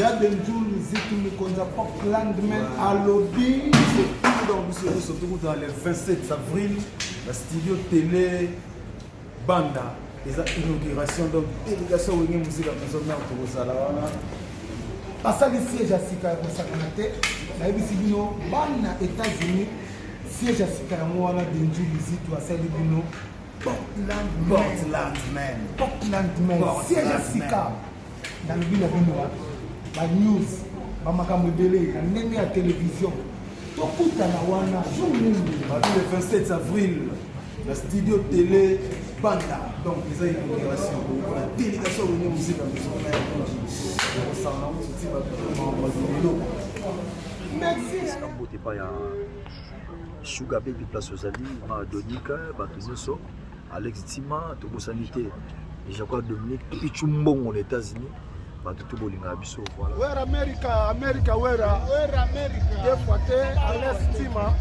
ya denjul miziki mokonzi ya pop landman alobi donc biso nyonso tokutana le 27 avril na studio tele banda eza inauguration donc délégation wenge mosika maison mare tokozala wana basali siège ya sika ya kosakana te nayebisi bino bana états-unis siège ya sika yango wana denjul miziki asali bino portland portland man portland man siège ya sika nalobi na bino ba news ba makambo ebele na ndenge ya television tokutana wana jour nini babi le 27 avril na studio tele banda donc eza inauguration na délégation rene mosika mizona ya koji ekosanga mosuti babiloko mbote epai ya sugar baby place ozali madonika bato nyonso Alex Tima tobosani te Jacques Dominique Pichu Mbongo na États-Unis bato tu bolingaka biso voilà wera america america wera wera america des fois te ales tima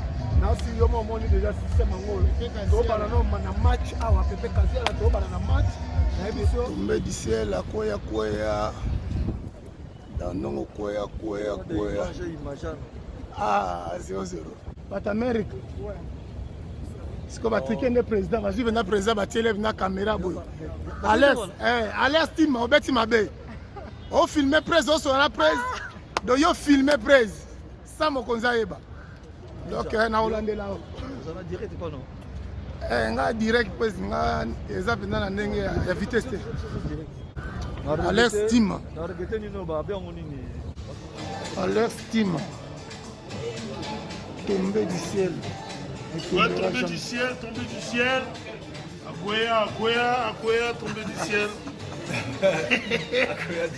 nasi yo mo omoni deja système yango tobana no na match awa pepe kaziala tobana na match nayebi so mbedisiel akoya kweya Dans nongo kueya kueya kueya. Ah, 0-0. But America. Ouais. siko batrike nde président bazwi mpenza président batiele na caméra boye alex eh, alex tim obeti mabe ofilme prese osola na prese do yo filme prese sa mokonzi ayeba donc eh, nakolandela yo eh, nga direct pues nga eza mpenza na ndenge ya vitesse te alex tim alex tim tombe du ciel Ouais, tombé du ciel, tombé du ciel. Akwea, Akwea, Akwea, tombé du ciel. Akwea du